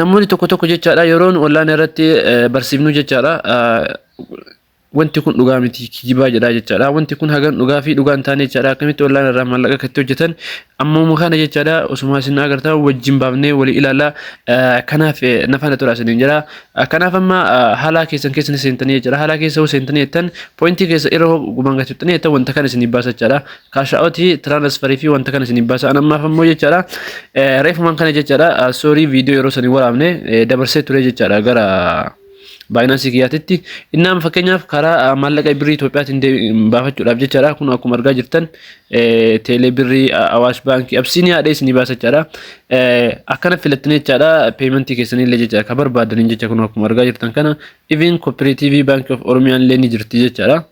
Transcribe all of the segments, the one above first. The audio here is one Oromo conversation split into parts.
namoonni tokko tokko jechaadha yeroo nu online irratti barsiifnu jechaadha wanti kun dhugaa miti kijibaa jedhaa jechaadha wanti kun hagan dhugaa fi dhugaa hin taane jechaadha akkamitti online irraa maallaqa akkatti hojjetan ammuma kana jechaadha osuma isin agartaa wajjin baafnee walii ilaalaa kanaaf nafana tura isin jira kanaaf amma haalaa keessan keessan seentanii jechaadha haalaa keessa hoo seentanii jettan poointii keessa irra gumaan gatuttanii jettan wanta kana isin baasa jechaadha kaashaa'ooti tiraansfarii fi wanta kana isiniif baasa'an ammaaf ammoo jechaadha. Reefumaan kana jechaadha soorii viidiyoo yeroo sanii waraabne dabarsee ture jechaadha gara baayinaansii kiyyaatitti. Innaan fakkeenyaaf karaa maallaqa birrii Itoophiyaatiin baafachuudhaaf jechaadha kun akkuma argaa jirtan teelee birrii awaash baankii absiinii haadhee isinii baasa jechaadha. Akkana filattanii jechaadha peementii keessanii illee jechaadha kan barbaadaniin jecha kun akkuma argaa jirtan kana iviin kooperaatiivii baankii of oromiyaan illee ni jirti jechaadha.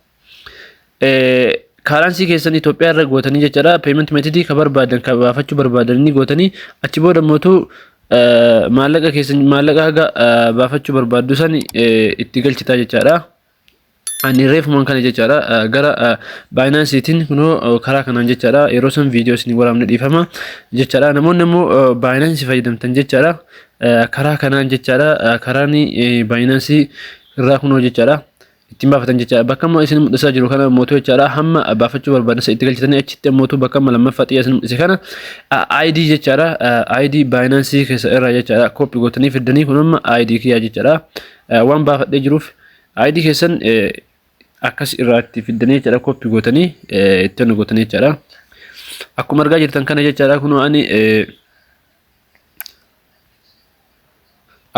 kaaransii keessan Itoophiyaa irra gootanii jechaadha payment method ka barbaadan ka baafachuu barbaadan inni gootanii achi booda mootuu maallaqa keessan maallaqa haga baafachuu barbaaddu san itti galchitaa jechaadha. Ani reefumaan kana jechaadha gara baayinaansiitiin kunoo karaa kanaan jechaadha yeroo san viidiyoo isin waraabne dhiifama jechaadha namoonni immoo baayinaansii fayyadamtan jechaadha karaa kanaan jechaadha karaan baayinaansii irraa kunoo jechaadha. ittiin baafatan jechaadha. Bakka amma isin mul'isaa jiru kana mootuu jechaadha. Hamma baafachuu barbaadan itti galchitanii achitti ammootu bakka amma lammaffaa xiyyaa isin mul'ise kana ID jechaadha. ID Binance keessa irraa jechaadha. Kooppi gootanii fiddanii kun amma ID kiyyaa jechaadha. Waan baafadhee jiruuf ID keessan akkas irraa itti fiddanii jechaadha. Kooppi gootanii itti gootanii jechaadha. Akkuma argaa jirtan kana jechaadha. Kunoo ani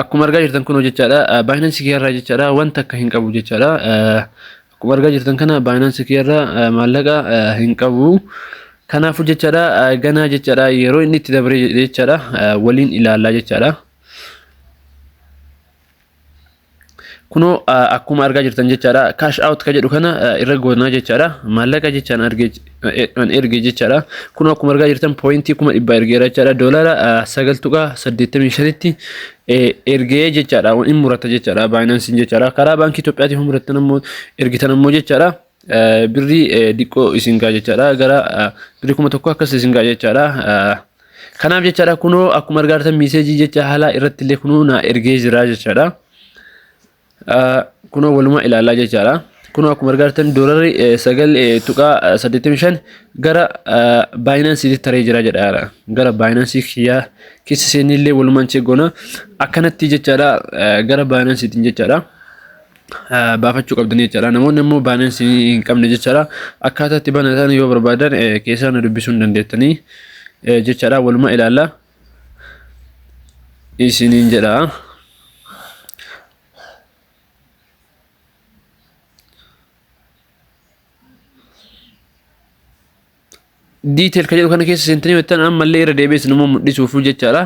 akkuma argaa jirtan kunoo jechaadha baayinansi kiyarraa jechaadha wanta akka hin qabu jechaadha akkuma argaa jirtan kana baayinansi kiyarraa maallaqa hin qabu kanaafuu jechaadha ganaa jechaadha yeroo inni itti dabree jechaadha waliin ilaallaa jechaadha. kunoo akkuma argaa jirtan jechaadha cash out ka jedhu kana irra goonaa jechaadha maallaqa jechaan an erge jechaadha kunoo akkuma argaa jirtan pooyintii kuma dhibba ergeera jechaadha doolaara sagal tuqaa saddeettamii shanitti ergee jechaadha in murata jechaadha baayinansiin jechaadha karaa baankii Itoophiyaatiin muratan ammoo ergitan ammoo jechaadha. birrii diqqoo isin gaa jechaadha gara birrii kuma tokko akkas isin gaa jechaadha. Kanaaf jechaadha kunoo akkuma argaartan miiseejii jecha haalaa irratti illee kunoo naa ergee jira jechaadha. Kunoo walumaa ilaalaa jechaadha. Kunoo akkuma argaartan doolarii sagal tuqaa saddeettamii shan gara baayinaansiitti taree jira jedhaadha. Gara baayinaansii kiyyaa keessa seenillee walumaan cheegoona akkanatti jechaadha gara baayinaansiitiin jechaadha. baafachuu qabdanii jechaadha. Namoonni immoo baanansi hin qabne jechaadha. Akkaataa itti banatan yoo barbaadan keessaa na dubbisuu hin dandeettanii jechaadha. Waluma ilaalla. Isiniin jedha. detail ka jedhu kana keessa seentanii jettan ammallee irra deebi'ee sinuma mul'isuuf jechaadha.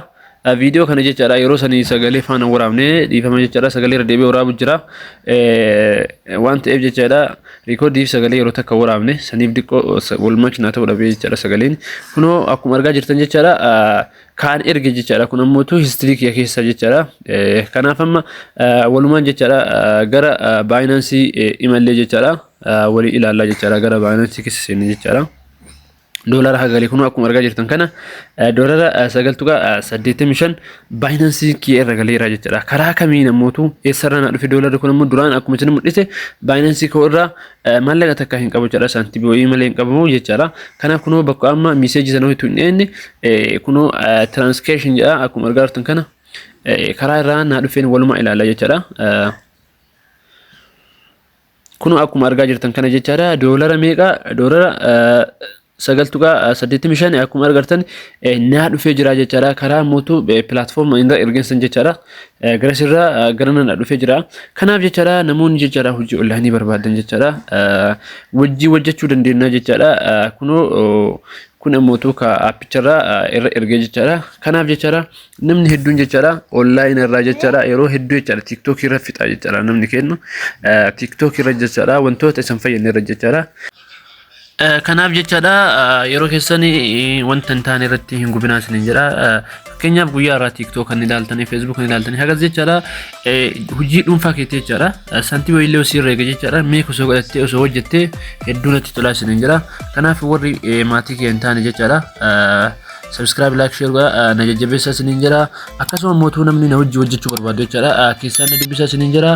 Viidiyoo kana jechaadha yeroo sanii sagalee faana waraabne dhiifama jechaadha sagalee irra deebi'ee waraabu jira. Waan ta'eef jechaadha riikoodiif sagalee yeroo takka waraabne saniif diqqoo wal makina ta'uu dhabee jechaadha sagaleen. Kunoo akkuma argaa jirtan jechaadha kaan erge jechaadha kun ammoo tu histirii kiyya keessa jechaadha. Kanaaf amma walumaan jechaadha gara baayinaansii imallee jechaadha. walii ilaallaa jechaadha gara baayinaansii keessa seenne jechaadha. Doolara hagalee kunuu akkuma argaa jirtan kana doolara sagal tuqaa saddeettamii shan baayinaansii kiyya irra galeera jechaadha. Karaa kamiin ammootu eessarraa na dhufe doolarri kun ammoo duraan akkuma isin mul'ise baayinaansii koo irraa maallaqa takka hin qabu jechaadha saantibii wayii malee hin qabamu jechaadha. Kana kunoo bakka amma miiseejii sana hojitu hin dhiyeenne kunoo tiraansikeeshin jedha akkuma argaa jirtan kana karaa irraa na dhufeen walumaa ilaalla jechaadha. Kunoo akkuma argaa jirtan kana jechaadha. Doolara meeqa? Doolara sagal tuqaa saddeettamii shan akkuma argartan naa dhufee jira jechaadha. Karaa mootu pilaatfoorma irra ergeessan jechaadha. Garas irraa gara nana dhufee jira. Kanaaf jechaadha namoonni jechaadha hojii onlaayinii barbaadan jechaadha. Wajjii hojjechuu dandeenya jechaadha. Kunoo kun ammootu ka appicharraa irra ergee jechaadha. Kanaaf jechaadha namni hedduun jechaadha online irraa jechaadha yeroo hedduu jechaadha tiktok irra fixaa jechaadha namni kennu tiktok irra jechaadha wantoota isin fayyadne irra jechaadha. Kanaaf jechaadha yeroo keessan wanta hin taane irratti hin gubinaa isin jedha fakkeenyaaf guyyaa irraa tiktok kan ilaaltanii facebook kan ilaaltanii hagas jechaadha hojii dhuunfaa keetti jechaadha santii wayiillee osii irra eega jechaadha mee osoo godhattee osoo hojjettee hedduu natti tolaa isin jedha kanaaf warri maatii kee hin taane jechaadha. subscribe like share godhaa na jajjabeessaa isiniin jira akkasuma immoo utuu namni na wajjin hojjechuu barbaadu jechaadha keessaan na dubbisaa isiniin jira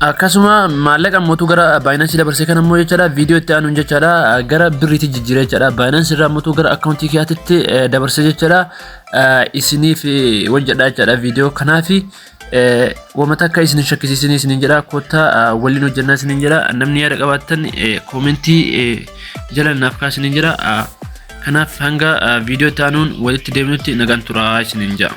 akkasuma maallaqa immoo utuu gara baayinaansii dabarsee kan immoo jechaadha viidiyoo itti aanuun jechaadha gara birriitti jijjiiree jechaadha baayinaansii irraa immoo utuu gara akkaawuntii kiyyaatitti dabarsee jechaadha isiniif hojjedha jechaadha viidiyoo kanaafi. Wamata akka isin shakkisiisin isinin jedha kotta waliin hojjannaa isinin jedha namni yaada qabaattan koomentii jala naaf kaa isinin jedha kanaaf hanga viidiyoo taanuun walitti deemnutti nagaan turaa isinin jedha.